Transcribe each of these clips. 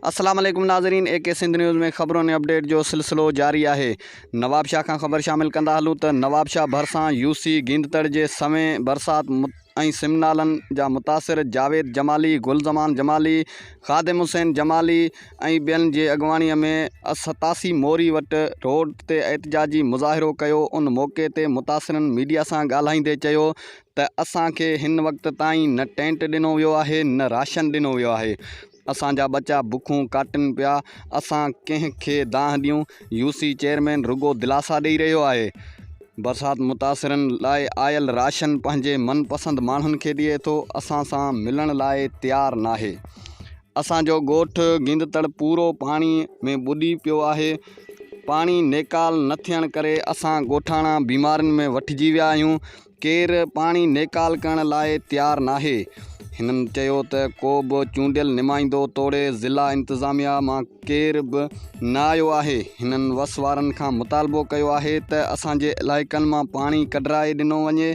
السلام عليڪم ناظرين اي ڪي سنڌ نيوز ۾ خبرون ۽ اپڊيٽ جو سلسلو جاري آهي نوابشاهه کان خبر شامل ڪندا هلون ته نوابشاهه ڀرسان يوسي گيندتڙ جي سوين برسات ۽ سمنالن جا متاثر جاويد جمالي، گل زمان جمالي، خادم حسين جمالي ۽ ٻين جي اڳواڻي ۾ ستاسي موري وٽ روڊ تي احتجاجي مظاهرو ڪيو، ان موقعي تي متاثرن ميڊيا سان ڳالهائيندي چيو ته اسان کي هن وقت تائين نه ٽينٽ ڏنو ويو آهي نه راشن ڏنو ويو آهي، اسان جا ٻچا بکون ڪاٽن پيا، اسان ڪنهن کي دانهن ڏيون، يو سي چيئرمين رڳو دلاسا ڏئي رهيو آهي، برسات متاثرن لاء آيل راشن پنهنجي من پسند ماڻهن کي ڏئي ٿو، اسان سان ملڻ لاء تيار ناهي، اسان جو ڳوٺ گيندتڙ پورو پاڻي ۾ ٻڏي پيو آهي، پاڻي نيڪال نه ٿيڻ ڪري اسان ڳوٺاڻا بيمارين ۾ وٺجي ويا آهيون، ڪير پاڻي نيڪال ڪرڻ لاء تيار ناهي. هنن چيو ته ڪو به چونڊيل نمائندو توڙي ضلع انتظاميا مان ڪير به نه آيو آهي، هنن وس وارن کان مطالبو ڪيو آهي ته اسان جي علائقن مان پاڻي ڪڍرائي ڏنو وڃي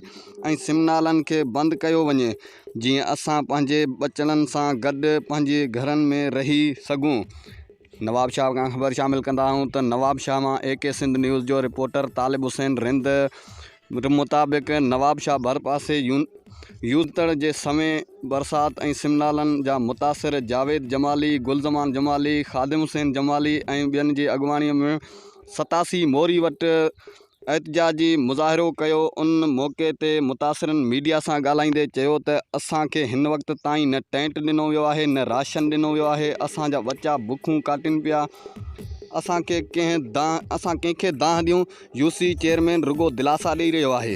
۽ سم نالن کي بند ڪيو وڃي جيئن اسان پنهنجي ٻچڙن سان گڏ پنهنجي گهرن ۾ رهي سگهون. نوابشاهه کان خبر شامل ڪندا آهيون ته نوابشاهه مان اي ڪي سنڌ نيوز جو رپورٽر طالب حسين رند رپورٽ مطابق نوابشاهه ڀرپاسي يونتڙ جي سوين برسات ۽ سمنالن جا متاثر جاويد جمالي، گلزمان جمالي، خادم حسين جمالي ۽ ٻين جي اڳواڻي ۾ ستاسي موري وٽ احتجاجي مظاهرو ڪيو ان موقعي تي متاثرن ميڊيا سان ڳالهائيندي چيو ته اسان کي هن وقت تائين نه ٽينٽ ڏنو ويو آهي نه راشن ڏنو ويو آهي اسان جا ٻچا بکون ڪاٽين پيا اسان ڪنهن کي دانهن ڏيون، يو سي چيئرمين رڳو دلاسا ڏئي رهيو آهي.